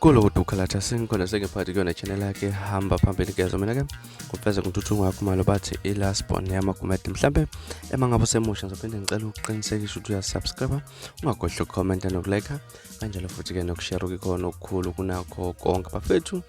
kulo kuduka lathi asingikhona sengiphathi kuyona channel yakhe hamba phambili kezo mina ke kufeza ngithuthuku wakho malo bathi i-last born yamakumede mhlampe ema ngabe usemusha ngizophinde ngicela ukuqinisekisa ukuthi uyasubscribe ungagodli ukukhomenta nokulekha kanjalo futhi-ke nokushare ukikhona okukhulu kunakho konke bafethu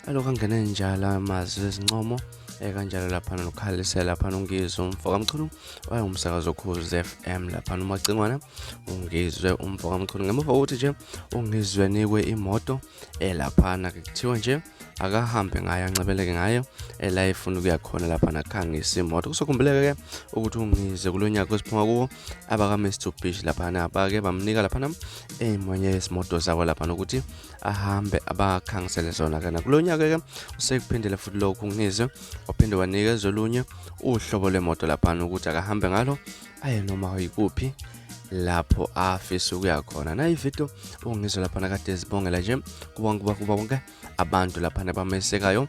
alokhu angene njalo amazwi ezincomo ekanjalo lapha nokhalise lapha nongizwe umfo kamchunu wayengumsakazi okhuzi FM lapha nomacingwana ungizwe umfo kamchunu ngemuva kokuthi nje ungizwe nikwe imoto elaphana ke kuthiwa nje akahambe ngayo ancebeleke ngayo ela efuna ukuya khona lapha nakhangisa imoto kusokhumbuleke ke ukuthi ungizwe kulo nyaka esiphuma kuwo abaka-mr bish laphana bake bamnika laphana ey'monye yezimoto zabo lapha nokuthi ahambe abakhangisele zona kana kulo nyaka ke usekuphindele futhi lokhu ngizwe waphinde wanikeza olunye uhlobo lwemoto laphana ukuthi akahambe ngalo aye noma yikuphi lapho afisa ukuya khona nayi video ungizwe laphana kade ezibongela nje kuba kuba kuba bonke abantu laphana bamesekayo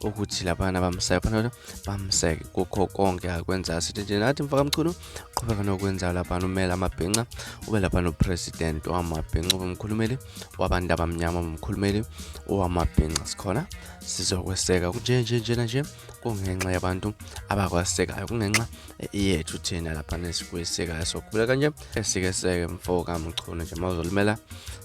ukuthi labana bamseke phana bamseke kukho konke akwenzayo sithi nje nathi mfakamchunu qhubeka nokwenzayo laphana umele amabhinca ube laphana upresident wamabhinca ube umkhulumeli wabantu abamnyama umkhulumeli owamabhinca sikhona sizokweseka kunje nje njena nje kungenxa yabantu abakwasekayo kungenxa yethu thina laphana esikwesekayo sokubuleka nje esike seke mfo kamchunu nje mawuzolimela